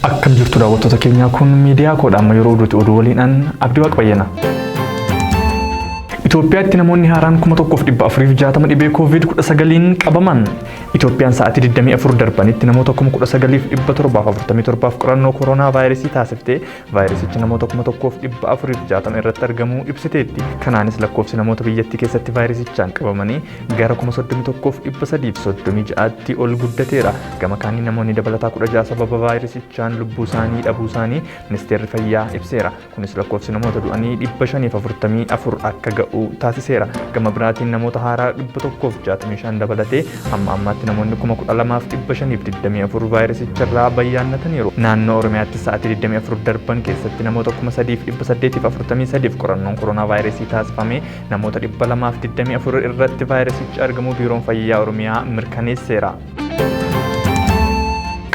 Akkam jirtu daawwattoota keenyaa kun miidiyaa koodha amma yeroo oduuti oduu waliin an abdii waaq bayyana. Itoophiyaatti namoonni haaraan 1460 dhibee COVID-19n qabaman. Itoophiyaan sa'aatii 24 darbanitti namoota 19,747 qorannoo kooroonaa vaayirasii taasiftee Vaayirasichi namoota 1,460 irratti argamuu ibsiteetti. Kanaanis lakkoofsi namoota biyyattii keessatti vaayirasichaan qabamanii gara 31,336tti ol guddateera. Gama kaaniin namoonni dabalataa 16 sababa vaayirasichaan lubbuu isaanii dhabuu isaanii ministeerri fayyaa ibseera. Kunis lakkoofsi namoota du'anii 544 akka ga'u taasiseera. Gama biraatiin namoota haaraa 165 dabalatee Amma ammaatti namoonni 12,524 vaayirasicharraa bayyaannataniiru. Naannoo Oromiyaatti sa'aatii 24 darban keessatti namoota 3,843f qorannoon koronaa vaayirasii taasifamee namoota 224 irratti vaayirasichi argamuu Biiroon Fayyaa Oromiyaa mirkaneesseera.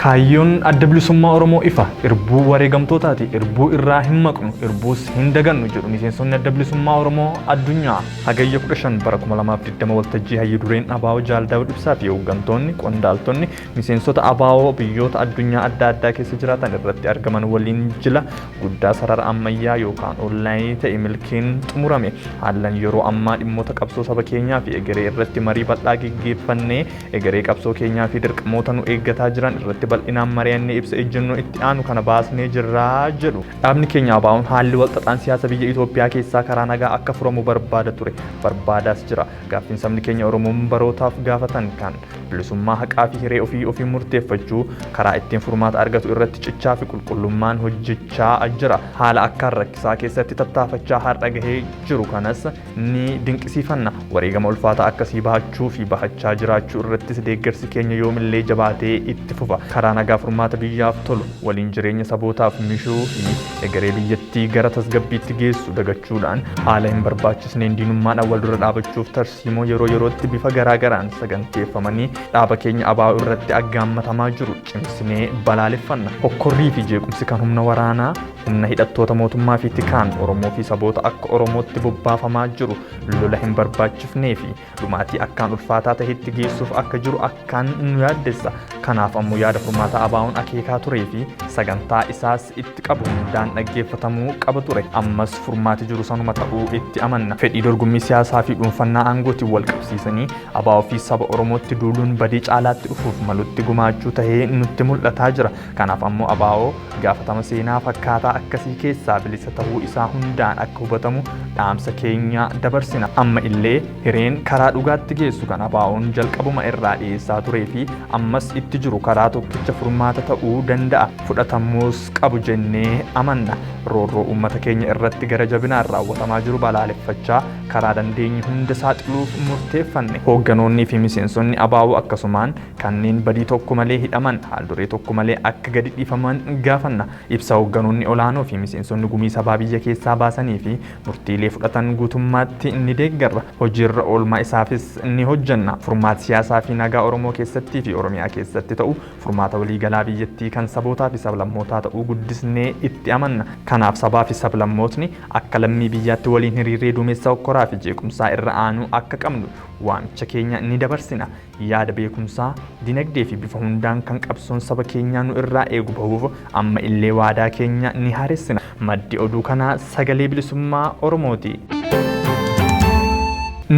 Kaayyoon adda bilisummaa Oromoo ifa. Irbuu wareegamtootaati. Irbuu irraa hin maqnu. Irbuus hin dagannu jedhu miseensonni adda bilisummaa Oromoo addunyaa. Hagayya 15 bara 2020 waltajjii hayyu dureen Abaawoo Jaal Daawud Ibsaa fi hooggantoonni, qondaaltonni, miseensota Abaawoo biyyoota addunyaa adda addaa keessa jiraatan irratti argaman waliin jila guddaa sarara ammayyaa yookaan oonlaayinii ta'e milkiin xumurame. Haallan yeroo ammaa dhimmoota qabsoo saba keenyaa fi egeree irratti marii bal'aa geggeeffannee egeree qabsoo keenyaa fi dirqamoota nu eeggataa jiran irratti bal'inaan mari'annee ibsa ejjennoo itti aanu kana baasnee jirra jedhu. Dhaabni keenya ABOn haalli walxaxaan siyaasa biyya Itoophiyaa keessaa karaa nagaa akka furamu barbaada ture, barbaadaas jira. Gaaffiin sabni keenya Oromoon barootaaf gaafatan kan bilisummaa haqaa fi hiree ofii ofiin murteeffachuu karaa ittiin furmaata argatu irratti cichaa fi qulqullummaan hojjechaa jira. Haala akkaan rakkisaa keessatti tattaafachaa har'a gahee jiru kanas Ni dinqisiifanna. Wareegama ulfaataa akkasii bahachuu fi bahachaa jiraachuu irrattis deeggarsi keenya yoomillee jabaatee itti fufa. Karaa nagaa furmaata biyyaaf tolu, waliin jireenya sabootaaf mishuu fi egeree biyyattii gara tasgabbiitti geessu dagachuudhaan haala hin barbaachisneen diinummaadhaan wal dura dhaabachuuf tarsiimoo yeroo yerootti bifa garaa garaan saganteeffamanii dhaaba keenya ABO irratti aggaammatamaa jiru cimsinee balaaleffanna. Hokkorrii fi jeequmsi kan humna waraanaa, Humna hidhattoota mootummaa fi tikaan Oromoo fi saboota akka Oromootti bobbaafamaa jiru lola hin barbaachifnee fi dhumaatii akkaan ulfaataa tahetti geessuuf akka jiru akkaan nu yaaddessa. Kanaaf ammoo yaada furmaataa ABOn akeekaa turee fi sagantaa isaas itti qabu hundaan dhaggeeffatamuu qaba ture. Ammas furmaati jiru sanuma ta'uu itti amanna. Fedhii dorgommii siyaasaa fi dhuunfannaa aangootiin wal qabsiisanii ABO fi saba Oromootti duuluun badii caalaatti dhufuuf malutti gumaachuu tahee nutti mul'ataa jira. Kanaaf ammoo ABO gaafatama seenaa fakkaataa akkasii keessaa bilisa tahuu isaa hundaan akka hubatamu dhaamsa keenya dabarsina. Amma illee hireen karaa dhugaatti geessu kan ABOn jalqabuma irraa dhiyeessaa turee fi ammas itti jiru karaa tokkicha furmaata ta'uu danda'a, fudhatamuus qabu jennee amanna. Roorroo uummata keenya irratti gara jabinaan raawwatamaa jiru balaaleffachaa karaa dandeenye hunda saaxiluuf murteeffanne. Hoogganoonnii fi miseensonni ABO akkasumaan Kanneen badii tokko malee hidhaman haalduree tokko malee akka gadi dhiifaman gaafanna. Ibsa hoogganoonni olaanoo fi miseensonni gumii sabaa biyya keessaa baasanii fi murtiilee fudhatan guutummaatti ni deeggarra. Hojiirra oolmaa isaafis ni hojjenna. Furmaati siyaasaa fi nagaa Oromoo keessattii fi Oromiyaa keessatti ta'u furmaata waliigalaa biyyattii kan sabootaa fi sablammootaa ta'uu guddisnee itti amanna. Kanaaf sabaa fi sablammootni akka lammii biyyaatti waliin hiriirree duumessa hokkoraa fi jeequmsaa irra aanuu akka qabnu waamicha keenya ni dabarsina. Yaada beekumsaa, dinagdee fi bifa hundaan kan qabsoon saba keenyaa nu irraa eegu bahuuf amma illee waadaa keenya ni haaressina. Maddi oduu kanaa Sagalee Bilisummaa Oromoo ti.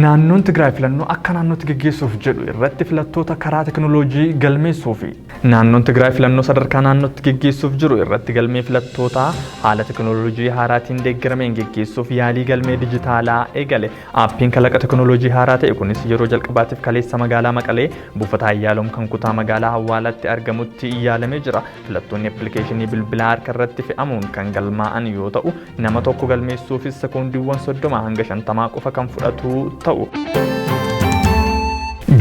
Naannoon Tigraay filannoo akka naannootti geggeessuuf jedhu irratti filattoota karaa tekinooloojii galmeessuufi. Naannoon Tigraay filannoo sadarkaa naannootti geggeessuuf jiru irratti galmee filattootaa haala tekinooloojii haaraatiin deeggarameen geggeessuuf yaalii galmee dijitaalaa eegale. Aappiin kalaqa tekinooloojii haaraa ta'e kunis yeroo jalqabaatiif kaleessa magaalaa Maqalee buufata Hayyaaloom kan kutaa magaalaa Hawwaalaatti argamutti yaalamee jira. Filattoonni appilikeeshinii bilbilaa harka irratti fe'amuun kan galmaa'an yoo ta'u, nama tokko galmeessuufis sekoondiiwwan 30 hanga 50 qofa kan fudhatu ta'u.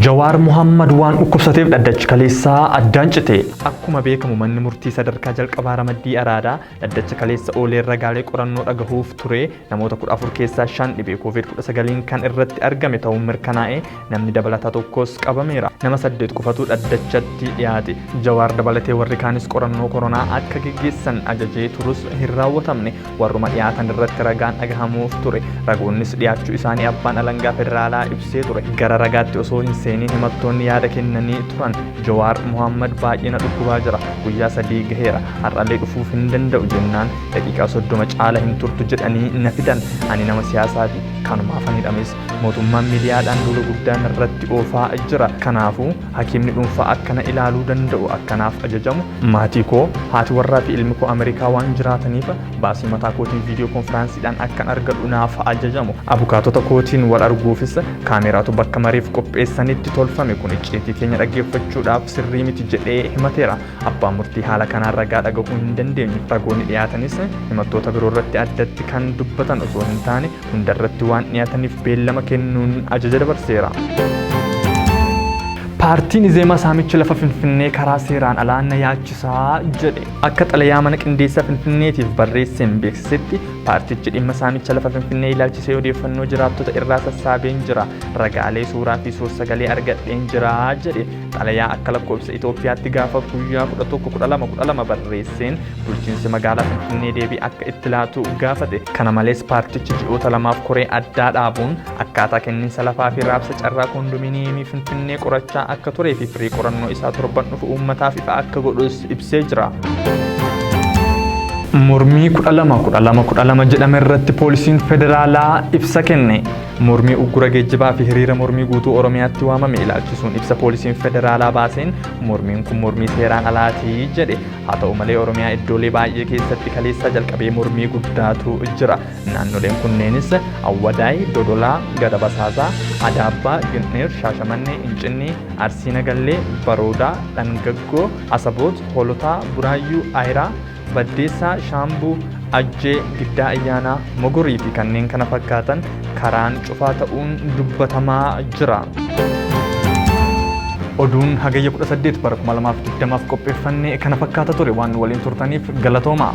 Jawaar Muhammad waan dhukkubsateef dhaddachi kaleessaa addaan cite. Akkuma beekamu manni murtii sadarkaa jalqabaa ramaddii araadaa dhaddacha kaleessa oolee ragaalee qorannoo dhagahuuf ture Namoota 14 keessaa 5 dhibee Koovid 19n kan irratti argame ta'uun mirkanaa'ee namni dabalataa tokkos qabameera. Nama 8 qofatu dhaddachatti dhiyaate. Jawaar dabalatee warri kaanis qorannoo koronaa akka geggeessan ajajee turus hin raawwatamne. Warruma dhiyaatan irratti ragaan dhagahamuuf ture. Ragoonnis dhiyaachuu isaanii abbaan alangaa federaalaa ibsee ture. Gara ragaatti osoo hin seeniin himattoonni yaada kennanii turan. Jawaar Mohaammad baay'ee na dhukkubaa jira. Guyyaa sadii gaheera. Har'allee dhufuuf hin danda'u jennaan daqiiqaa soddoma caala hin turtu jedhanii na fidan ani nama siyaasaati kanumaaf ani dhames mootummaan miidiyaadhaan duula guddaa narratti oofaa jira kanaafuu hakiimni dhuunfaa akkana ilaaluu danda'u akkanaaf ajajamu maatii koo haati warraa fi ilmi koo ameerikaa waan jiraataniif baasii mataa kootiin viidiyoo konfiraansiidhaan akkan argadhu naaf ajajamu abukaatota kootiin wal arguufis kaameeraatu bakka mariif qopheessanitti tolfame kun icciitii keenya dhaggeeffachuudhaaf sirrii miti jedhee himateera Abbaan murtii haala kanaan ragaa dhagahuu hin dandeenye. Ragoonni dhiyaatanis himattoota biroo irratti addatti kan dubbatan osoo hin taane hunda irratti waan dhiyaataniif beellama kennuun ajaja dabarseera. Paartiin Izeemaa saamichi lafa Finfinnee karaa seeraan alaa na yaachisaa jedhe. Akka xalayaa mana qindeessaa Finfinneetiif barreesseen beeksisetti paartichi dhimma saamicha lafa Finfinnee ilaalchisee odeeffannoo jiraattota irraa sassaabeen jira. Ragaalee suuraa fi suur-sagalee argadheen jira jedhe. Xalayaa akka lakkoofsa Itoophiyaatti gaafa guyyaa 11-12-12 barreesseen bulchiinsi magaalaa Finfinnee deebii akka itti laatu gaafate. Kana malees paartichi ji'oota lamaaf koree addaa dhaabuun akkaataa kenniinsa lafaa fi raabsa carraa koondominiyeemii Finfinnee qorachaa akka turee fi firii qorannoo isaa torban dhufu uummataaf ifa akka godhus ibsee jira. Mormii 12-12-12 jedhame irratti poolisiin federaalaa ibsa kenne. Mormii uggura geejjibaa fi hiriira mormii guutuu Oromiyaatti waamame ilaalchisuun ibsa poolisiin federaalaa baaseen mormiin kun mormii seeraan alaati jedhe. Haa ta'u malee Oromiyaa iddoolee baay'ee keessatti kaleessaa jalqabee mormii guddaatu jira. Naannoleen kunneenis Awwadaay, Dodolaa, Gara Basaasaa, Adaabbaa, Gindhiir, Shaashamannee, Incinnii, Arsii Nagallee, Baroodaa, Dhangaggoo, Asaboot, Hoolotaa, Buraayyuu, Ayiraa, Baddeessaa, Shaambuu, Ajjee, Giddaa Ayyaanaa, Mogorii fi kanneen kana fakkaatan karaan cufaa ta'uun dubbatamaa jira. Oduun hagayya 18 bara 2020f qopheeffanne kana fakkaata ture waan nu waliin turtaniif galatoomaa.